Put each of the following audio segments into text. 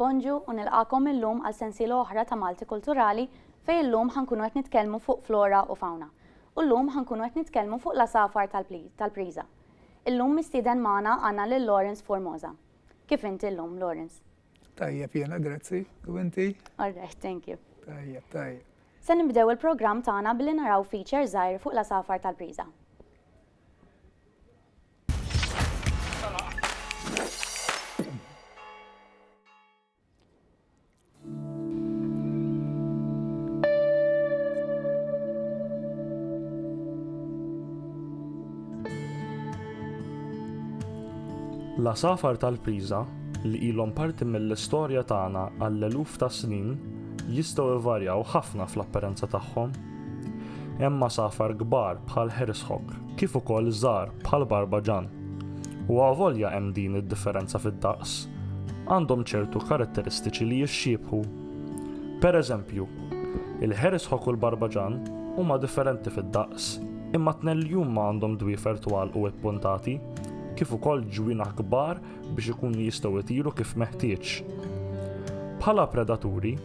Bonġu u nilqagħkom illum għal sensiela oħra ta' Malti Kulturali fejn illum ħa nkunu qed nitkellmu fuq flora u fawna. U llum ħa nkunu qed nitkellmu fuq l-għasafar tal-Priża. Illum mistieden magħna għandna lil Lawrence Formosa. Kif inti llum, Lawrence? Tajjeb jiena, grazzi. U inti? All right, thank you. Tajjeb, tajjeb. Se nibdew il-programm tagħna billi naraw feature żgħir fuq l-għasafar tal-Priża. L-għasafar tal-priża li ilhom parti mill-istorja tagħna għall-eluf ta' snin jistgħu jvarjaw ħafna fl-apparenza tagħhom. Hemm għasafar kbar bħal Herishawk kif ukoll żgħar bħal Barbaġan. U avolja hemm din id-differenza fid-daqs, għandhom ċertu karatteristiċi li jixxiebħu. Pereżempju, il-Herishawk u l-Barbaġan huma differenti fid-daqs, imma t-tnejn li huma għandhom dwiefer twal u ippuntati, kif ukoll ġwienaħ kbar biex ikunu jistgħu jtiru kif meħtieġ. Bħala predaturi,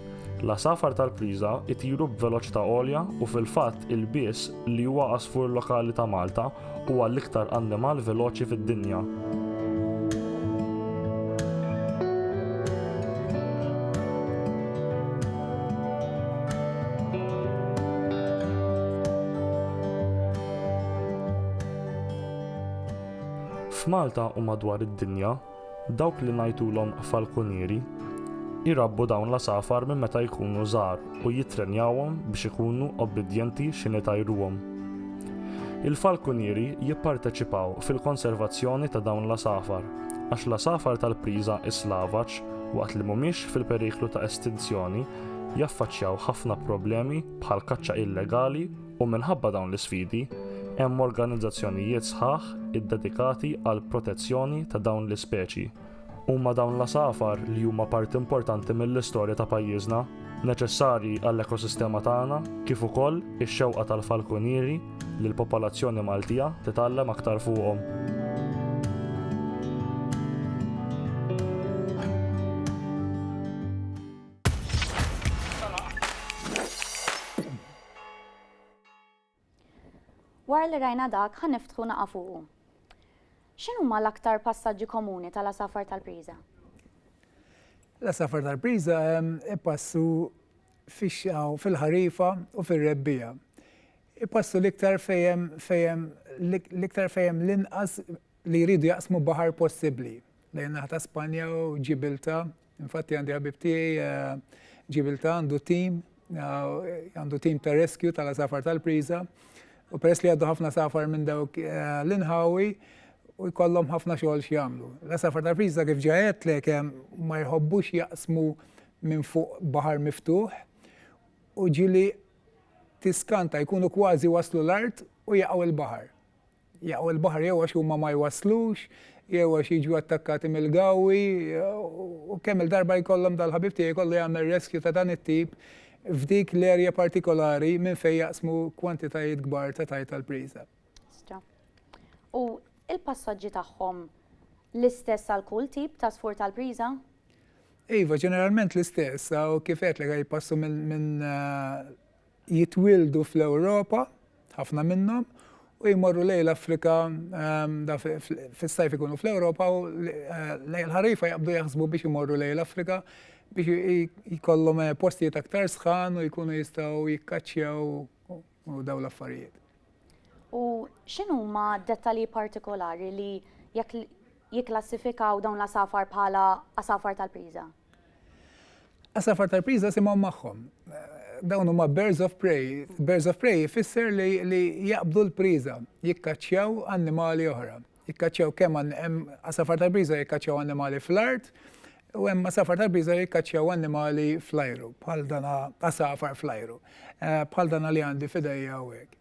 l-għasafar tal-priża jtiru b'veloċità għolja u fil-fatt il-bies li huwa għasfur lokali ta' Malta huwa l-iktar annimal veloċi fid-dinja. F'Malta u madwar id-dinja, dawk li ngħidulhom falkunieri jrabbu dawn l-għasafar minn meta jkunu żgħar u jittrenjawhom biex ikunu obbidjenti x'inhi jtajruhom. Il-falkunieri jipparteċipaw fil-konservazzjoni ta' dawn l-għasafar għax l-għasafar tal-priża islavaġ waqt li mhumiex fil-periklu ta' estinzjoni jaffaċċjaw ħafna problemi bħall-kaċċa illegali U minħabba dawn l-isfidi, hemm organizzazzjonijiet sħaħ iddedikati għall-protezzjoni ta' dawn l-ispeċi. Huma dawn l-għasafar li huma parti importanti mill-istorja ta' pajjiżna, neċessarji għall-ekosistema tagħna kif ukoll ix-xewqa tal-falkunieri li l-popolazzjoni Maltija titgħallem aktar fuqhom. Wara li rajna dak, ħa niftħu naqa' fuqu. X'inhuma l-aktar passaġġi komuni tal-għasafar tal-priża? L-għasafar tal-priża jpassu fix-xita u fil-ħarifa u fir-rebbiegħa. Jpassu l-iktar fejn hemm l-iktar fejn hemm l-inqas li jridu jaqsmu baħar possibbli, lejn naħa ta' Spanja u Ġibilta Infatti għandi ħabib tiegħi eh, ġibilta għandu tim, eh, għandu tim ta' rescue tal-asafar tal-priża, u peress li għaddu ħafna safar minn dawk eh, l-inħawi, u jkollhom ħafna xogħol x'jagħmlu. L-asafar tal-priża kif ġajet li kemm ma jħobbux jaqsmu minn fuq baħar miftuħ u ġili tiskanta jkunu kważi waslu l-art u jaqgħu l-baħar. jaqgħu l-baħar jew għax huma ma jwasslux, jew għax jiġu attakkati mill-gawwi, u kemm il-darba jkollhom dal-ħabib tiegħi jkollu jagħmel rescue ta' dan it-tip f'dik l-area partikolari minn fejn jaqsmu kwantitajiet kbar ta' tajt għall-priża. Stra. U l-passaġġi tagħhom l-istess għal kull tip ta' sfur tal-priża? Iva, ġeneralment l-istess, u kif qed li jpassu minn Jitwieldu fl-Ewropa, ħafna minnhom, u jmorru lejn l-Afrika, fis-sajf ikunu fl-Ewropa u lejn ħarifa jaqbdu jaħsbu biex imorru lejn l-Afrika biex jkollhom postijiet aktar sħan u jkunu jistgħu jikkaċċjaw u dawn l-affarijiet. U x'inhuma dettalji partikolari li jekk jikklassifikaw dawn l-għasafar bħala għasafar tal-priża? Għasafar tal-priża simhom magħhom. Dawn huma birds of prey. Birds of prey jfisser li, li jaqbdu l-priża, jikkaċċjaw annimali oħra. Jikkaċċjaw kemm hemm għasafar tal-priża jikkaċċjaw annimali fl-art, u hemm għasafar tal-priża jikkaċċjaw annimali fl-ajru, bħal dana għasafar fl-ajru, eh, bħal dana li għandi f'idejja hawnhekk.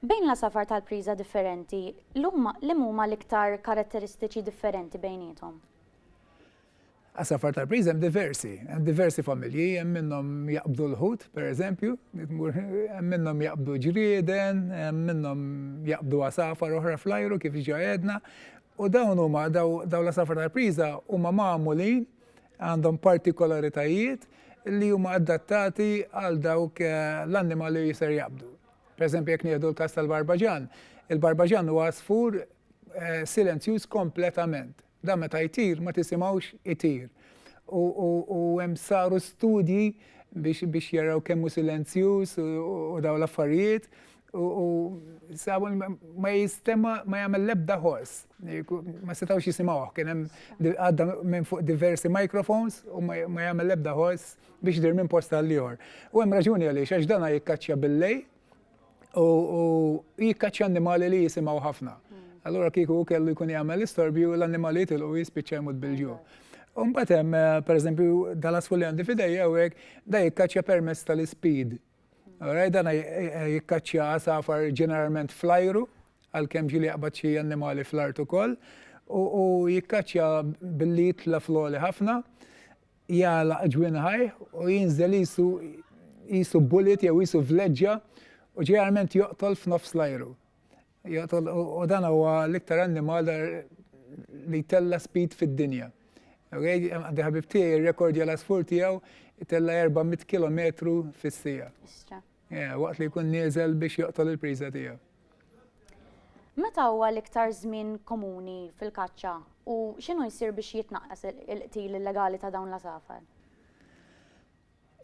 Bejn l-għasafar tal-priża differenti, l-huma, liem huma l-iktar karatteristiċi differenti bejniethom? Għasafar tal-priża hemm diversi, hemm diversi familji, hemm minnhom jaqbdu l-ħut, pereżempju, hemm minnhom jaqbdu ġrieden, hemm minnhom jaqbdu għasafar oħra fl-ajru kif ġa għedna, u dawn huma daw l-għasafar tal-priża huma magħmulin Għandhom partikolaritajiet li huma adattati għal dawk l-annimali li ser jaqbdu. Pereżempju jekk nieħdu l-każ tal-barbaġan, il-barbaġan huwa għasfur silenzjuż kompletament. Dan meta jtir ma tisimgħux itir. U hemm saru studji biex jaraw kemm hu silenzjuż u dawn l-affarijiet. U Samuel ma jistema ma jagħmel lebda ħors. Ma setgħux jisimgħuh kien hemm għadda minn fuq diversi microphones u ma jagħmel lebda ħors biex dir minn posta għal ieħor. U hemm raġuni għaliex għax dana jikkaċċja billej u jikkaċċja annimali li jisimgħu ħafna. Allura kieku kellu jkun jagħmel istorbju l-annimali jitilqu jispiċċa jmut bil-ġu. Umbat hemm, eh, pereżempju, dal-asfulli għandi fidejja u hekk da jikkaċċja permess tal-ispid Alright, dan jikkaċċja għasafar ġeneralment fl-ajru, għalkemm ġieli jaqbad xi annimali fl-art ukoll, u jikkaċċja billi jitla fl-għoli ħafna, jala ġwin ħaj u jinżel jisu jisu bullet jew jisu vleġġa u ġeneralment joqtol f'nofs l-ajru. Joqtol u dan huwa l-iktar annimal li jtella' speed fid-dinja. Okay? Għandi ħabib tiegħi r-rekord l-asfur tiegħu jtella' 400 kilometru fis-sija. Yeah, waqt li jkun nieżel biex joqtol il-priża tiegħu. Meta huwa l-iktar żmien komuni fil-kaċċa u x'inhu jsir biex jitnaqqas il-qtil illegali ta' dawn l-asafar?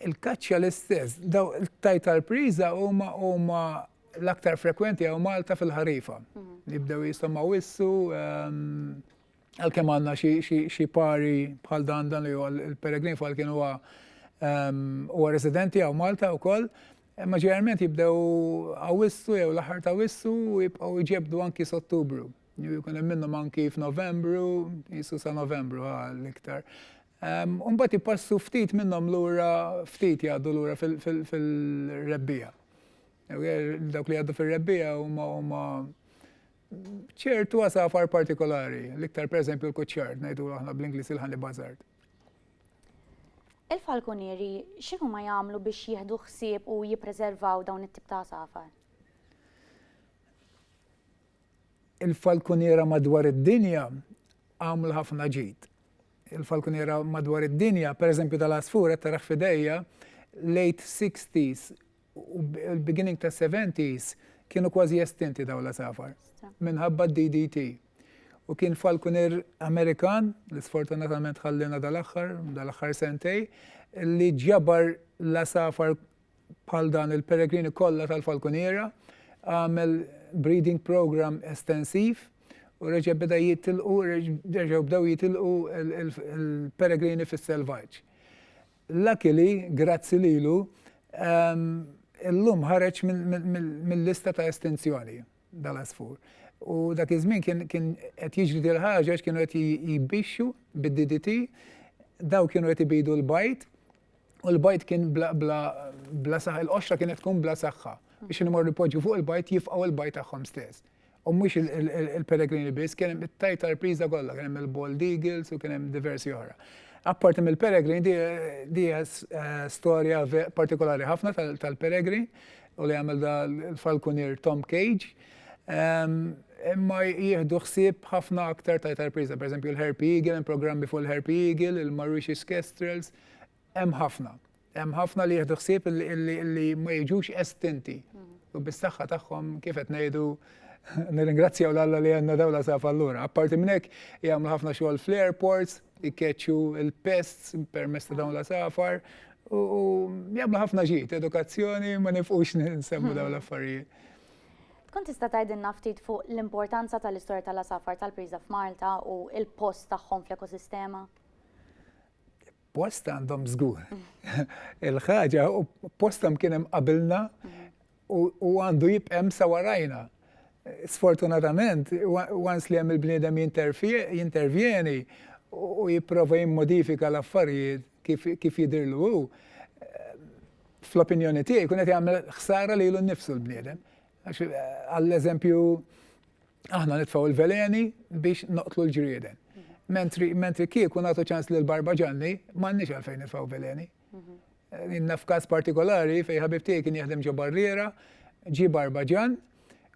Il-kaċċa l-istess. Daw il-tajt tal-priża huma huma l-aktar frekwenti għaw Malta fil-ħarifa. Mhm. Jibdew jisom wissu, ehm, għal-kem għanna xie pari bħal dan dan li il-peregrin fal kien huwa ehm, huwa residenti għaw Malta u koll, ma ġeneralment jibdew għawissu jew l-ħar ta' wissu u jibqaw iġebdu anki s-ottubru. Jkun hemm minnhom anki f'Novembru, jisu sa' Novembru l-iktar. U mbagħad jpassu ftit minnhom lura, ftit jgħaddu lura fir-rebbiegħa. Dawk li jgħaddu fir-rebbiegħa huma huma ċertu għasafar partikolari, l-iktar pereżempju l-kuċċar, ngħidu aħna bl-Ingliż il-honey buzzard. Il-falkunieri x'inhu ma jagħmlu biex jieħdu ħsieb u jippreservaw dawn it-tip ta' għasafar? il-falkuniera madwar id-dinja għamlu ħafna ġid. Il-falkuniera madwar id-dinja, per eżempju tal-asfur, qed taraħ fidejja, late 60s u beginning ta' 70s kienu kważi estinti daw l-asafar minħabba d-DDT. U kien falkunier Amerikan, li sfortunatament ħallina dal-axħar, dal-axħar sentej, li ġabar l-asafar bħal dan il-peregrini kollha tal-falkuniera, għamel breeding program estensiv u reġa' beda jitilqu, reġgħu bdew jitilqu il-peregrini fis-selvaġġ. Luckily, grazzi lilu, illum ħareġ mill-lista ta' estinzjoni dal-għasfur. U dak iż-żmien kien qed jiġri dil ħaġa għax kienu qed jbixxu bid-DDT, daw kienu qed ibidu l-bajd, u l-bajt kien bla bla bla saħħa, il-qoxra kienet tkun bla saħħa biex nimor ripoġġu fuq il-bajt jifqgħu il-bajt tagħhom stess. U mhux il-peregrini biss, kien hemm it-tajt tal-priża kollha, kien hemm il-Bald Eagles u kien hemm diversi oħra. Apparti mill-peregrin, di eh, storja partikolari ħafna tal-peregrin u li għamil da l-falkunier Tom Cage. Ehm, imma jieħdu ħsieb ħafna aktar ta' tarpriza, per esempio l-Herpy Eagle, programmi fuq l-Herpy Eagle, il-Mauritius Kestrels, Hemm ħafna. Hemm ħafna li jieħdu ħsieb li ma jiġux estinti. U bis-saħħa tagħhom kif qed ngħidu nirringrazzjaw l-Alla li għandna dawla saf allura. Apparti minn hekk jagħmlu ħafna xogħol fl-airports, ikkeċċu il-pests permezz ta' dawn la safar u jagħmlu ħafna ġid, edukazzjoni ma nifqux nsemmu dawn l-affarijiet. Tkun tista' tgħidilna ftit fuq l-importanza tal-istorja tal-asafar tal-priża f'Malta u l-post tagħhom fl-ekosistema? Post għandhom żgur. Il-ħaġa u postom kien hemm qabilna u għandu jibqem sa warajna. Sfortunatament, once li hemm il-bniedem jintervjeni u jipprova jimmodifika l-affarijiet kif jidirlu hu, fl-opinjoni tiegħi kun qed jagħmel ħsara lilu nnifsu l-bniedem. Għax għall-eżempju aħna nitfgħu l-veleni biex noqtlu l-ġrieden. Mentri mentri kieku nagħtu ċans lil barba ġanni m'għandniex għalfejn nitfgħu veleni. Inna f'każ partikolari fejn ħabib tiegħi kien jaħdem ġo barriera, ġi barba ġan,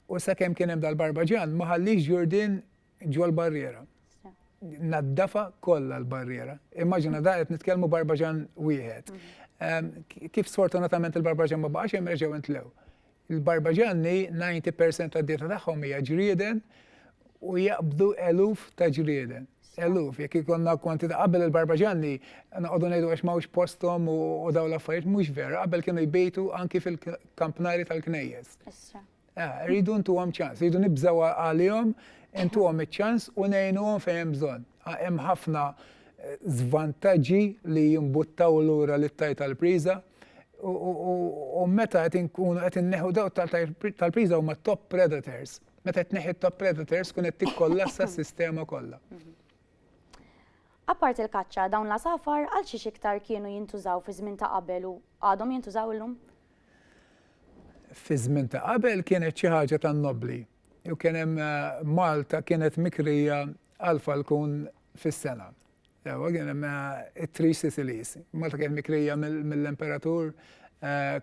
u sakemm kien hemm dal-barba ġan ma ħallix ġurdin ġol barriera. Naddafa kollha l-barriera. Immaġina da qed nitkellmu barbaġan wieħed. Mm. Kif sfortunatament il-barbaġan ma baqax hemm reġgħu intlew. Il-barbaġanni 90% tad-dieta tagħhom hija ġrieden u jaqbdu eluf ta' ġrieden eluf, jek ikonna konti ta' qabel il-barbaġanni, naqodu nejdu għax mawx postom u daw l-affarijiet, mux vera, qabel kienu jbejtu anki fil-kampnari tal-knejjes. Ah, rridu ntuhom ċans, rridu nibżaw għalihom, ntuhom iċ-ċans u ngħinuhom fejn hemm bżonn. Ah, hemm ħafna eh, zvantaġġi li jimbuttaw lura li tajt tal-priża. U meta qed inkunu qed inneħu daw tal-priża huma top predators. Meta qed neħi top predators kun qed tikkollassa s-sistema kollha. Mhm. Apart il-kaċċa, dawn la safar għal xiex iktar kienu jintużaw fi żmien ta' qabel u għadhom jintużaw illum? Fiż-żmien ta' qabel kienet xi ħaġa tan-nobbli u kien hemm Malta kienet mikrija għal falkun fis-sena. Sewwa kien hemm it-Three Sicilies. Malta kienet mikrija mill-Imperatur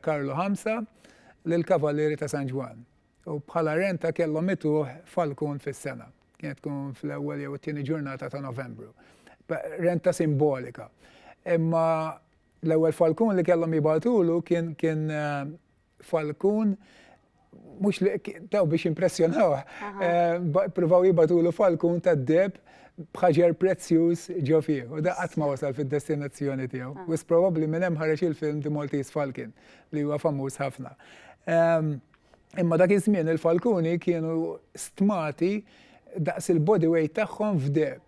Karlu Ħamsa lill-Kavallieri ta' San Ġwann. U bħala renta kellhom ituh falkun fis-sena. Kienet tkun fl-ewwel jew it-tieni ġurnata ta' Novembru. Renta simbolika. Imma L-ewwel falkun li kellhom jibagħtulu kien kien falkun mhux li taw biex impressjonawh. Pruvaw jibagħtulu falkun tad-deb bħaġer prezzjuż ġo fih. U da qatt ma wasal fid-destinazzjoni tiegħu. Ah. Wis probabbli minn hemm ħareġ il-film The Maltese Falcon li huwa famuż ħafna. Ehm, imma dak iż-żmien il-falkuni kienu stmati daqs il-body weight tagħhom f'deb.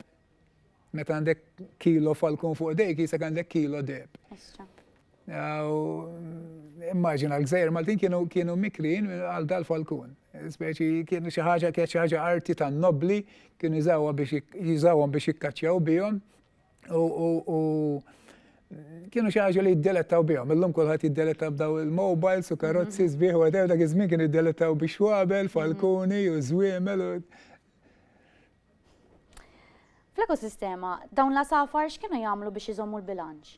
Meta għandek kilo falkun fuq dejk, jisek għandek kilo deb. Immaġina l-gżajr Maltin kienu kienu mikrin għal dal-falkun. Speċi kienu xi ħaġa kienet xi ħaġa arti tan nobli kienu jżawha biex jiżawhom biex jikkaċċjaw bihom u kienu xi ħaġa li jiddelettaw bihom. Illum kulħadd jiddeletta b'daw il-mobiles u karozzi mhm. sbieħ u għadew dak iż-żmien kienu jiddelettaw biex wabel, falkuni u żwiemel u Fl-ekosistema, dawn l-għasafar x'kienu jagħmlu biex iżommu l-bilanċ?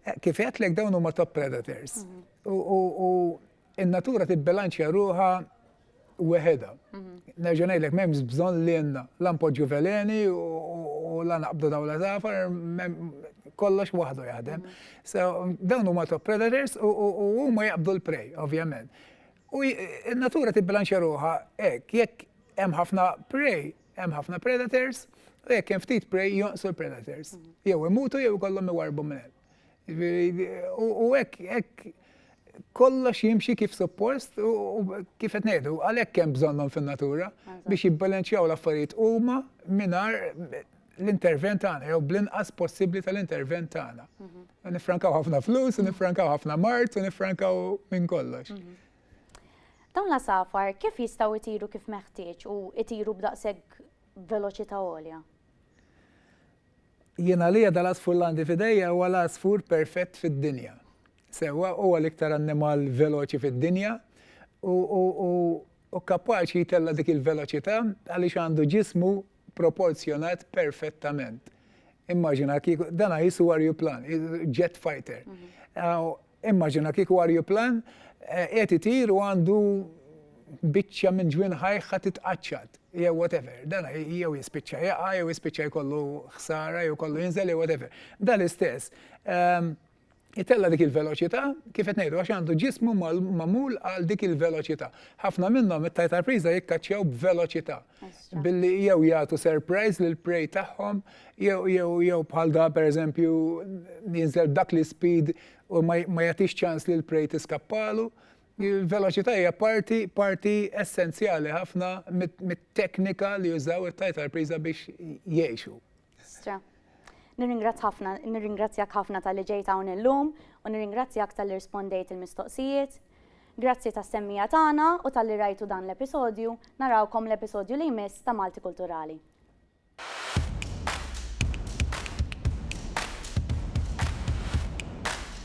Eh, kif għedlek dawn huma top predators. Mhm. U in-natura tibbilanċja ruħa weħeda. Mhm. Nerġa' ngħidlek m'hemmx bżonn li jenna la npoġġu veleni u la naqbdu dawn l-għasafar kollox waħdu jaħdem. Mhm. So, dawn huma top predators u huma jaqbdu l-prej, ovvjament. U n-natura tibbilanċja ruħa hekk, jekk Hemm ħafna prey, hemm ħafna predators, u jekk hemm ftit prey jonqsu l-predators. Jew imutu jew ikollhom iwarbu minn U hekk hekk kollox jimxi kif suppost u kif qed ngħidu, għalhekk hemm bżonnhom fin-natura biex jibbalanċjaw l-affarijiet huma mingħajr l-intervent tagħna jew bl-inqas possibbli tal-intervent tagħna. Mhm. Nifrankaw ħafna flus, nifrankaw ħafna mart, nifrankaw minn kollox. Mhm. Dawn l-għasafar kif jistgħu jtiru kif meħtieġ u jtiru b'daqshekk veloċità għolja? Jien għalija dal-għasfur li għandi f'idejja huwa l-għasfur perfett fid-dinja. Sewwa huwa l-iktar annimal veloċi fid-dinja u hu kapaċi jtella' dik il-veloċità għaliex għandu ġismu proporzjonat perfettament. Immaġina kieku, dan qisu arjuplan, jet fighter. Immaġina kieku arjuplan qiegħed itir u għandu biċċa minn ġwien ħajħha titqaċċat jew whatever. Dan jew jispiċċa jaqa' jew jispiċċa jkollu ħsara jew kollu jinżel jew whatever. Dan l-istess ehm, itella dik il-veloċità kif qed ngħidu għax għandu ġismu magħmul għal dik il-veloċità. Ħafna minnhom it-tajtar priża jikkaċċjaw b'veloċità. Billi jew jagħtu surprise lil prej tagħhom, jew bħal da pereżempju jinżel dak li speed u ma jagħtix ċans lil prej tiskappalu. Il-veloċità hija parti parti essenzjali ħafna mit-teknika li jużaw it-tajtarpriża biex jgħixu. Stra. Nirringrazzjak ħafna tal-li ġejt hawn illum u nirringrazzjak tal-li rispondejt il-mistoqsijiet. Grazzi ta' semmija tagħna u tal-li rajtu dan l-episodju, narawkom l-episodju li jmiss ta' Malti Kulturali.